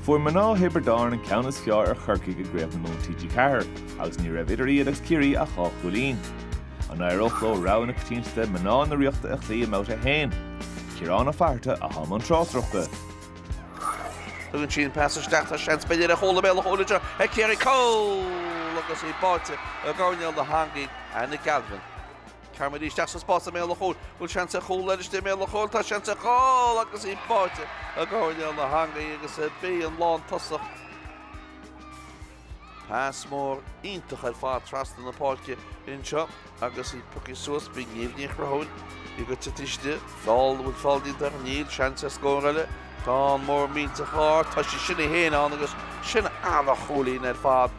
Fuair mná Thiobraid Árann an ceann is fearr ar Chorcaigh i gCraobh na Mumhan TG4 agus ní raibh idir iad agus Ciarraí ach dhá chúilín. An éireodh leo rogha na coitiantachta mná na Ríochta a chloí i mBabhta 1? Ciarán Ó Fatharta a tháinig i mbun tráchtaireachta. Tugann sí an pas isteach tá seans b'fhéidir ar chúl i mbéal an chúil anseo ag Ciarraí cúl agus í báite i gcoirnéal na heangaí Anna Galvin. Ghabh muid isteach sa spás i mbéal an chúil. Bhfuil seans ar chúl eile istigh i mbéal an chúil? Tá seans ar chúl agus í báite i gcoirnéal na heangaí agus ab í an lántosach. Pas mór iontach ar fad trasna na páirce anseo agus í pioctha suas. Bhí Niamh Ní Chonchúir ag gabháil tríd. Feall an bhfuil feall déanta. Níl seans ar scór eile. Tá an moltóir tar éis. Tá sí sin á dhéanamh agus sin an-chúilín ar fad.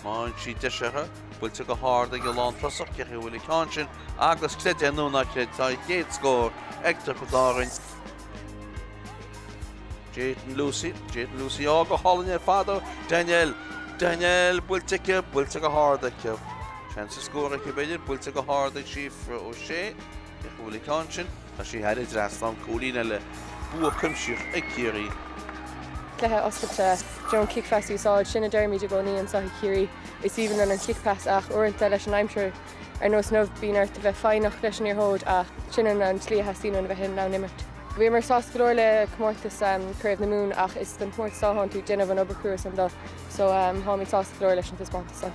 Má bhíonn sí deiseartha. Buailte go hard ag an lántosach cá háit a bhfuil an ceann sin agus creid é nó ná creid tá an chéad scór ag Tiobraid Árann. Jadyn Lucey, Jadyn Lucey á go hálainn ar fad ó Danielle, Danielle buailte aici, buailte go hard aici. Seans ar scór aici b'fhéidir, buailte go hard ag Síofra O'Shea. Cá háit a bhfuil an ceann sin, tá sé thar an trasnán cúilín eile, bua cuimsitheach ag Ciarraí. Cluiche oscailte, you know kick pass a úsáid, sin a deirimid i gcónaí anseo i gCiarraí, is aoibhinn linn an Kick Pass ach uaireanta leis an aimsir ar nós inniu bíonn ort a bheith foighneach leis an liathróid ach sin í an tslí a theastaíonn uainn a bheith in ann imirt. Bhíomar sásta go leor le comórtas Craobh na Mumhan ach is don chomórtas seo tánn tú ag déanamh an obair chrua san dó so tháimid sásta go leor leis an taispeántas san.